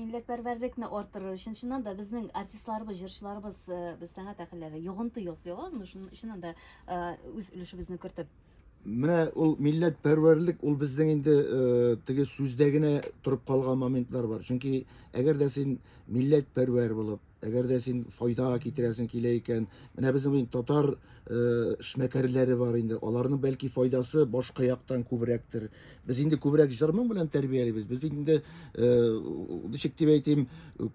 Милләтпәрвәрлекне арттырыр өчен чыннан да безнең артистларыбыз, җырчыларыбыз, э, без сәнгать әһелләре йогынты ясыйбыз азмы? Шуның чыннан да э, үз өлешебезне кертеп. Менә ул милләт пәрвәрлек ул безнең инде э, теге сүздә генә торып калган моментлар бар. Чөнки әгәр дә син милләт пәрвәр булып, Әгәр дә син файда китерәсең килә икән, менә безнең инде татар э, эшмәкәрләре бар инде. Аларның бәлки файдасы башка яктан күбрәктер. Без инде күбрәк җырның белән тәрбиялибез. Без инде э, ничек дип әйтим,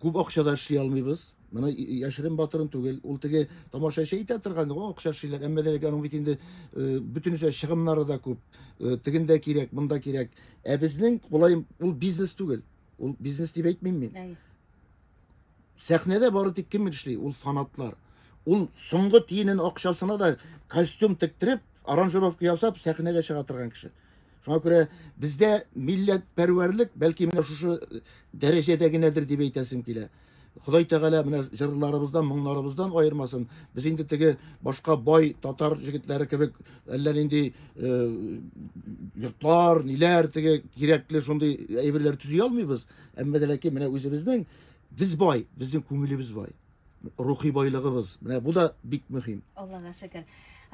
күп акчада эшли алмыйбыз. Менә яшерен батырын түгел. Ул теге тамашачы әйтә торган, о, акча эшлиләр. Әмма дә аның бит инде э, бөтенесе чыгымнары да күп. Э, тегендә кирәк, монда кирәк. Ә безнең болай ул бизнес түгел. Ул бизнес дип әйтмим мин. Сәхнәдә бары тик кем эшли? Ул фанатлар. Ул соңгы тиенен акчасына да костюм тектереп, аранжировка ясап сәхнәгә чыга торган кеше. Шуңа күрә бездә милләт пәрвәрлек бәлки менә шушы э, дәрәҗәдә генәдер дип әйтәсем килә. Ходай Тәгалә менә җырларыбыздан, моңнарыбыздан аермасын. Без инде теге башка бай татар җегетләре кебек әллә нинди э, йортлар, ниләр теге кирәкле шундый әйберләр төзи алмыйбыз. Әмма дә ләкин менә үзебезнең без бай, безнең күңелебез бай. Рухи байлыгыбыз. Менә бу да бик мөһим. Аллага шөкер.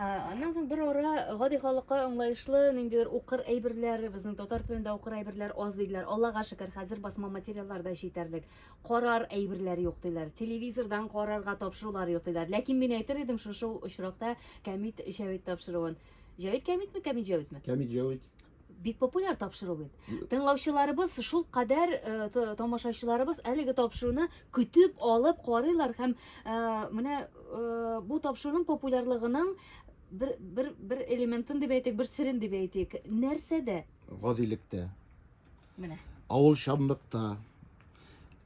Аннан соң бер ара гади халыкка аңлаешлы ниндидер укыр әйберләр, безнең татар телендә укыр әйберләр аз диләр. Аллага шөкер, хәзер басма материаллар да җитәрлек. Карар әйберләр юк диләр. Телевизордан карарга тапшырулар юк диләр. Ләкин мин әйтер идем шушы очракта Камит Җәвит тапшыруын. Җәвит Камитме, Камит Җәвитме? Камит Җәвит. Бик популяр тапшыру бит. Тыңлаучыларыбыз шул кадәр э, тамашачыларыбыз әлеге тапшыруны көтеп алып карыйлар һәм э, менә э, бу тапшыруның популярлыгының бер бер бер элементын дип әйтик, бер серен дип әйтик. Нәрсәдә? Гадилектә. Менә. Авыл чанлыкта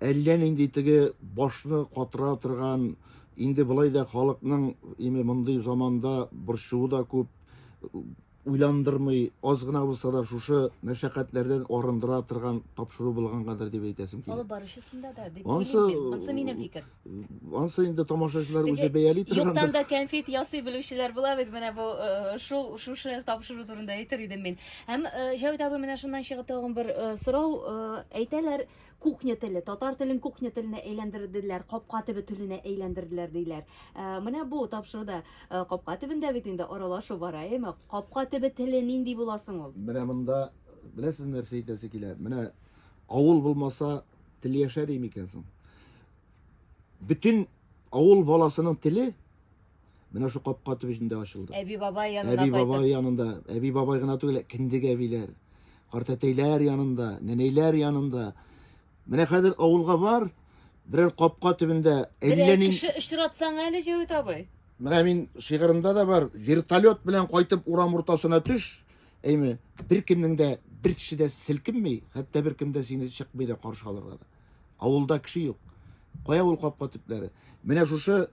әллә нинди теге башны катыра торган инде былай да халыкның име мондый заманда борчуы да күп уйландырмый, аз гына булса да шушы мәшәкатьләрдән арындыра торган тапшыру булгангадыр дип әйтәсем килә. Алып баручысында да дип Ансы- уйлыйм мин. Монсы минем фикер. Ансы инде тамашачылар Теге үзе бәяли Юктан торгандыр. да кәнфит ясый белүчеләр була бит менә бу э, шул шушы тапшыру турында әйтер идем мин. Һәм э, Җәвит абый менә шуннан чыгып тагын бер э, сорау э, әйтәләр Кухня теле, татар телен кухня теленә әйләндерделәр, капка төбе теленә әйләндерделәр диләр. Ә, менә бу тапшыруда ә, капка төбендә бит инде аралашу бара, әйме? Капка төбе теле нинди була соң ул? Менә монда беләсез нәрсә әйтәсе килә? Менә авыл булмаса тел яшәр икән соң. Бөтен авыл баласының теле Менә шу капка төбендә ачылды. Әби бабай янына Әби бабай янында, әби бабай гына түгел, киндек әбиләр, картәтәйләр янында, нәнәйләр янында. Менә хәзер авылга бар, берәр капка төбендә әллә ни кеше очратсаң әле Җәвит абый. Менә мин шигырымда да бар, вертолет белән кайтып урам уртасына төш, әйме, беркемнең дә бер кеше дә селкенми, хәтта беркем дә сине чыкмый да каршы алырга да. Авылда кеше юк. Кая ул капка төпләре? Менә шушы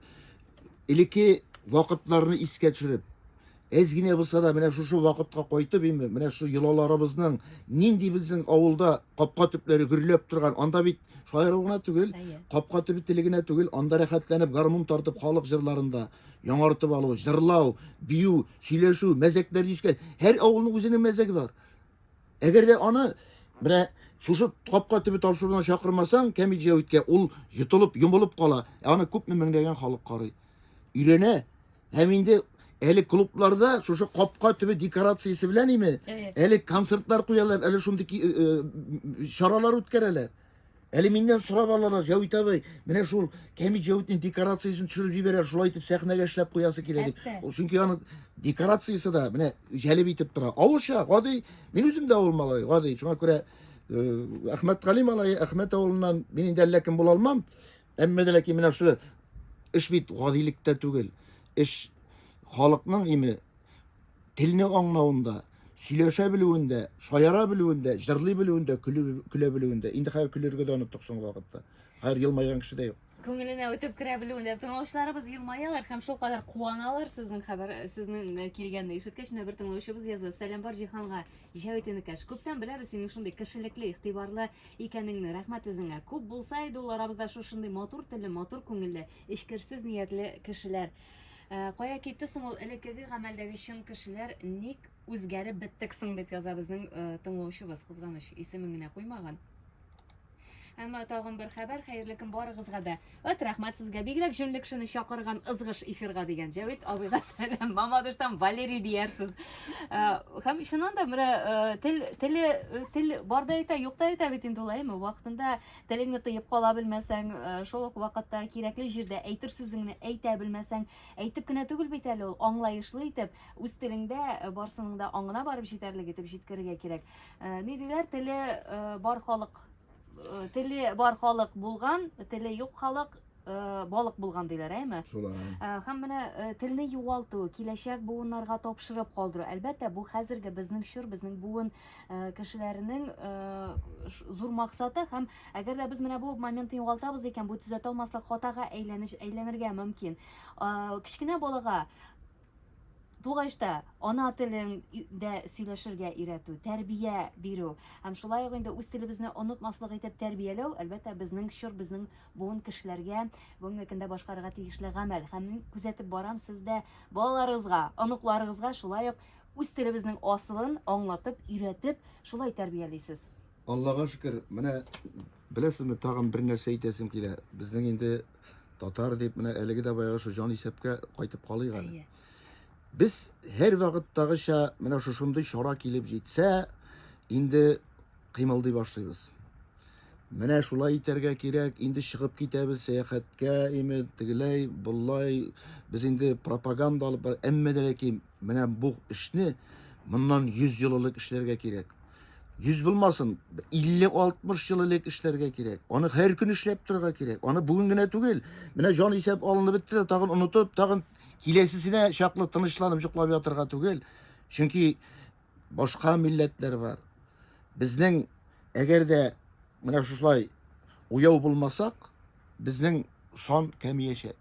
элекке вакытларны искә төшереп, әз генә булса да менә шушы вакытка кайтып, инде менә шу йолаларыбызның нинди безнең авылда капка төпләре гөрләп торган. Анда бит шаяру гына түгел, капка төбе теле генә түгел, анда рәхәтләнеп гармун тартып халык җырларында яңартып алу, җырлау, бию, сөйләшү, мәзәкләр дискән. Һәр авылның үзенең мәзәге бар. Әгәр дә аны менә шушы капка төбе тапшыруына чакырмасаң, Кәмит Җәвиткә ул йотылып, йомылып кала. Ә аны күпме меңләгән халык карый. Өйрәнә. Һәм инде әле клубларда шушы капка төбе декорациясе белән име, әле концертлар куялар, әле шундый э, э, чаралар үткәрәләр. Әле миннән сорап алалар, Җәвит абый, менә шул Кәмит Җәвитнең декорациясен төшереп җибәрә, шулай итеп сәхнәгә эшләп куясы килә дип. Ул чөнки аны декорациясе дә менә җәлеп итеп тора. Авылча, гади, мин үзем дә авыл малае, гади. Шуңа күрә э, Әхмәт Гали малае, Әхмәт авылыннан мин инде әллә кем була алмам. Әмма дә ләкин менә шул эш бит гадилектә түгел. Эш халыкның име телне аңлавында, сөйләшә белүендә, шаяра белүендә, җырлый белүендә, көлә белүендә. Инде хәзер көлергә дә оныттык соңгы вакытта. Хәзер елмайган кеше дә юк. Күңеленә үтеп керә белүендә тыңлаучыларыбыз елмаялар һәм шулкадәр куаналар сезнең хәбәр сезнең э, килгәнне ишеткәч менә бер тыңлаучыбыз язды сәлам бар җиһанга җәвит энекәш күптән беләбез синең шундый кешелекле игътибарлы Икәнеңне, рәхмәт үзеңә. Күп булса иде ул арабызда шушындый матур телле, матур күңелле, эчкерсез ниятле кешеләр. Ә, кая китте соң ул элеккеге гамәлдәге чын кешеләр, ник үзгәреп беттек соң, дип яза безнең э, тыңлаучыбыз, кызганыч, исемен генә куймаган. Әмма тагын бер хәбәр, хәерле көн барыгызга да. Вәт рәхмәт сезгә. Бигрәк җүнле кешене чакырган ызгыш эфирга дигән Җәвит абыйга сәлам. Мамадыштан Валерий диярсез. Э, һәм чыннан да менә э, тел теле э, тел барда әйтә, юкта әйтә бит инде улай, әйме вакытында телеңне тыеп кала белмәсәң, шул ук вакытта кирәкле җирдә әйтер сүзеңне әйтә белмәсәң, әйтеп кенә түгел бит әле ул, аңлаешлы итеп, үз телеңдә барсының да аңына барып җитәрлек итеп җиткерергә кирәк. Ни диләр, теле бар халык э, теле бар халык булган, теле юк халык э, балык булган диләр, әйме? Шулай. Э, Һәм менә э, телне югалту, киләчәк буыннарга тапшырып калдыру. Әлбәттә, бу хәзерге безнең чор, безнең буын э, кешеләренең э, ш- зур максаты һәм әгәр дә без менә бу моментны югалтабыз икән, бу төзәтә алмаслык хатага әйләнеш әйләнергә мөмкин. Э, Кечкенә балага тугач та ана телендә сөйләшергә өйрәтү, тәрбия бирү һәм шулай ук инде үз телебезне онытмаслык итеп тәрбияләү, әлбәттә, безнең чор, безнең буын кешеләргә бүгенге көндә башкарырга тиешле гамәл. Һәм мин күзәтеп барам, сез дә балаларыгызга, оныкларыгызга шулай ук үз телебезнең асылын аңлатып, өйрәтеп, шулай тәрбиялисез. Аллага шөкер, менә Беләсезме, тагын бер нәрсә әйтәсем килә. Безнең инде татар дип менә әлеге дә баягы шул җан исәпкә кайтып калыйк әле. Без һәр вакыттагыча менә шушындый чара килеп җитсә, инде кыймылдый башлыйбыз. Менә шулай итәргә кирәк, инде чыгып китәбез сәяхәткә, име тегеләй, болай. Без инде пропаганда алып, әмма дә ләкин Менә бу эшне моннан 100 ел элек эшләргә кирәк. 100 булмасын, 50-60 ел элек эшләргә кирәк. Аны һәр көн эшләп торырга кирәк. Аны бүген генә түгел. Менә җан исәп алынып бетте дә, тагын онытып, тагын киләсесенә чаклы тынычланып йоклап ятырга түгел. Чөнки башка милләтләр бар. Безнең әгәр дә менә шушылай уяу булмасак, безнең сон кәмиячәк.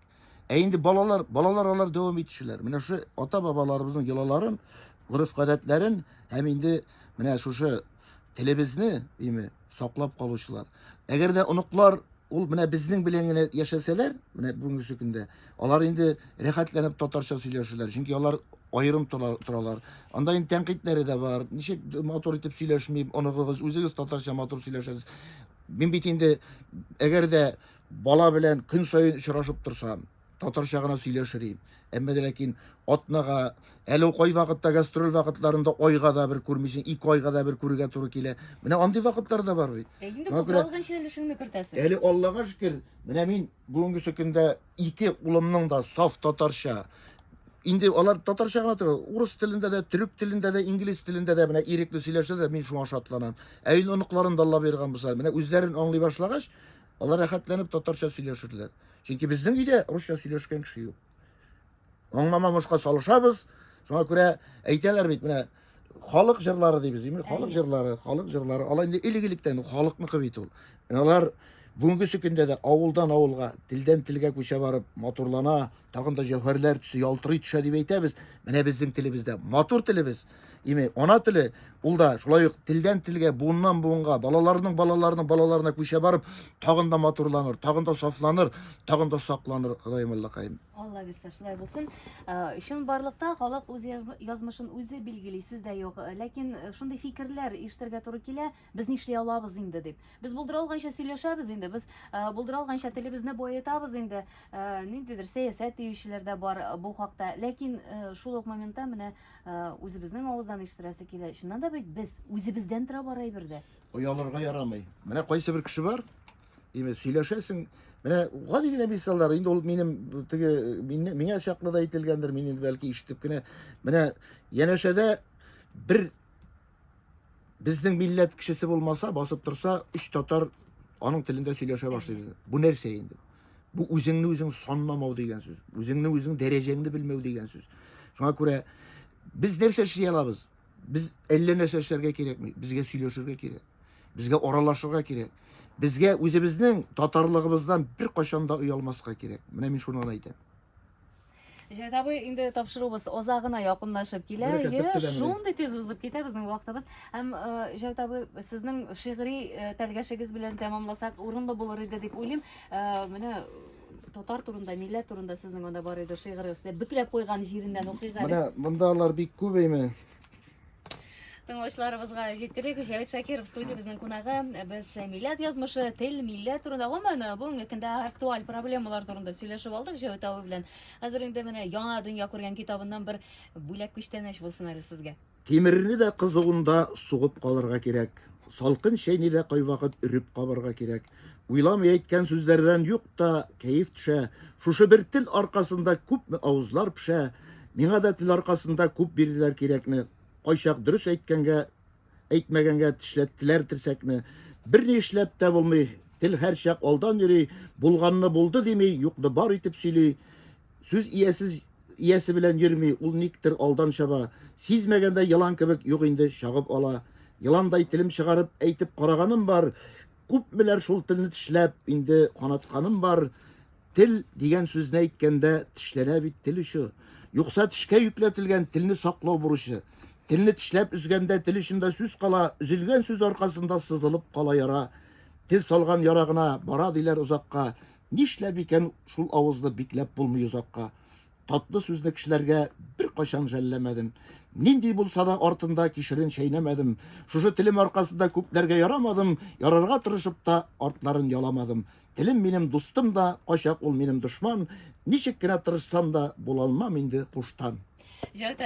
Ә инде балалар, балалар алар дәвам итүчеләр. Менә шушы ата-бабаларыбызның йолаларын, гореф-гадәтләрен һәм инде менә шушы телебезне, дими, саклап калучылар. Әгәр дә оныклар ул менә безнең белән генә яшәсәләр, менә бүгенге көндә, алар инде рәхәтләнеп татарча сөйләшәләр, чөнки алар аерым торалар. Анда инде тәнкыйтьләре дә бар. Ничек матур итеп сөйләшми, оныгыгыз, үзегез татарча матур сөйләшәсез. Мин бит инде әгәр дә Бала белән көн саен очрашып торсам, татарча гына сөйләшер идем. Әмма дә ләкин атнага, әле ул кайвакытта гастроль вакытларында айга да бер күрмисең, ике айга да бер күрергә туры килә. Менә андый вакытлар да бар бит. Ә инде Шуңа күрә- калганча өлешеңне кертәсең. Әле Аллага шөкер, менә мин бүгенге көндә ике улымның да саф татарча. Инде алар татарча гына түгел, урыс телендә дә, төрек телендә дә, инглиз телендә дә менә ирекле сөйләшә дә, мин шуңа шатланам. Ә инде оныкларын да Алла боерган булса, менә үзләрен аңлый башлагач, Алар рәхәтләнеп татарча сөйләшерләр. Чөнки безнең өйдә русча сөйләшкән кеше юк. Аңламамышка салышабыз. Шуңа күрә әйтәләр бит, менә халык җырлары дибез, имин, халык җырлары, халык җырлары. Алар инде илек-илектән халыкныкы бит ул. Алар бүгенге көндә дә авылдан авылга, телдән телгә күчә барып, матурлана, тагын да җәүһәрләр төсе ялтырый төшә дип әйтәбез. Менә безнең телебездә матур телебез. Яме ана теле ул да шулай ук телдән телгә, буыннан буынга, балаларның балаларының балаларына күчә барып, тагын да матурланыр, тагын да сафланыр, тагын да сакланыр Ходаем Аллакаем. Алла бирсә шулай булсын. Э, Чын барлыкта халык үз язмышын үзе билгели, сүз дә юк. Э, ләкин э, шундый фикерләр ишетергә туры килә, без нишли алабыз инде дип. Без булдыра алганча сөйләшәбез инде, без булдыра алганча телебезне баетабыз инде. Ниндидер сәясәт диючеләр дә бар бу хакта. Ләкин шул ук моментта менә Үзебезнең авыздан ишеттерәсе килә. Чыннан да бит без үзебездән тора бар әйбер дә. Оялырга ярамый. Менә кайсы бер кеше бар, димәк, сөйләшәсең. Менә гади генә мисаллар, инде ул минем теге миңа чаклы да әйтелгәндер, мин инде бәлки ишетеп кенә. Менә янәшәдә бер Безнең милләт кешесе булмаса, басып торса, үч татар аның телендә сөйләшә башлый. Бу нәрсә инде? Бу үзеңне үзең санламау дигән сүз. Үзеңне үзең дәрәҗәңне белмәү дигән сүз. Шуңа күрә без нәрсә эшли алабыз? Без әллә нәрсә эшләргә кирәкми. Безгә сөйләшергә кирәк. Безгә аралашырга кирәк. Безгә үзебезнең татарлыгыбыздан бер кашанда оялмаска кирәк. Менә мин шуны гына әйтәм. Җәйт абый, инде тапшыруыбыз озак гына якынлашып килә. Бәләкәт, Әйе, бетте дә менә. шундый тиз узып китә безнең вакытыбыз. Һәм э, Җәйт абый, сезнең шигъри э, тәлгәшегез белән тәмамласак, урынлы булыр иде дип уйлыйм. Э, Менә э, татар турында, милләт турында сезнең анда бар иде шигырегез. Дә Бөкләп куйган җиреннән укыйк әле. Менә монда алар бик күп әйме. Тыңлаучыларыбызга җиткерик, Җәвит Шакиров студиябезнең кунагы. Без милләт язмышы, тел, милләт турында, гомумән, бүгенге көндә актуаль проблемалар турында сөйләшеп алдык Җәвит абый белән. Хәзер инде менә яңа дөнья күргән китабыннан бер бүләк күчтәнәч булсын әле сезгә. Тимерне дә кызуында сугып калырга кирәк, салкын чәйне дә кайвакыт өреп кабарга кирәк. Уйламый әйткән сүзләрдән юк та кәеф төшә. Шушы бер тел аркасында күпме авызлар пешә. Миңа да тел аркасында күп бирделәр кирәкне. Кайчак дөрес әйткәнгә, әйтмәгәнгә тешләттеләр терсәкне. Берни эшләп тә булмый. Тел һәрчак алдан йөри, булганны булды дими, юкны бар итеп сөйли. Сүз иясез иясе белән йөрми, ул никтер алдан чаба. Сизмәгәндә елан кебек юк инде чагып ала. Еландай телем чыгарып әйтеп караганым бар, Күпмеләр шул телне тешләп, инде канатканым бар, тел дигән сүзне әйткәндә тешләнә бит тел очы. Юкса тешкә йөкләтелгән телне саклау бурычы. Телне тешләп өзгәндә тел очында сүз кала, өзелгән сүз аркасында сызылып кала яра. Тел салган ярагына бара диләр озакка. Нишләп икән шул авызны бикләп булмый озакка? Татлы сүзле кешеләргә беркайчан жәлләмәдем. Нинди булса да артында кишерен чәйнәмәдем. Шушы телем аркасында күпләргә ярамадым, ярарга тырышып та артларын яламадым. Телем минем дустым да, кайчак ул минем дошман. Ничек кенә тырышсам да, булалмам инде куштан.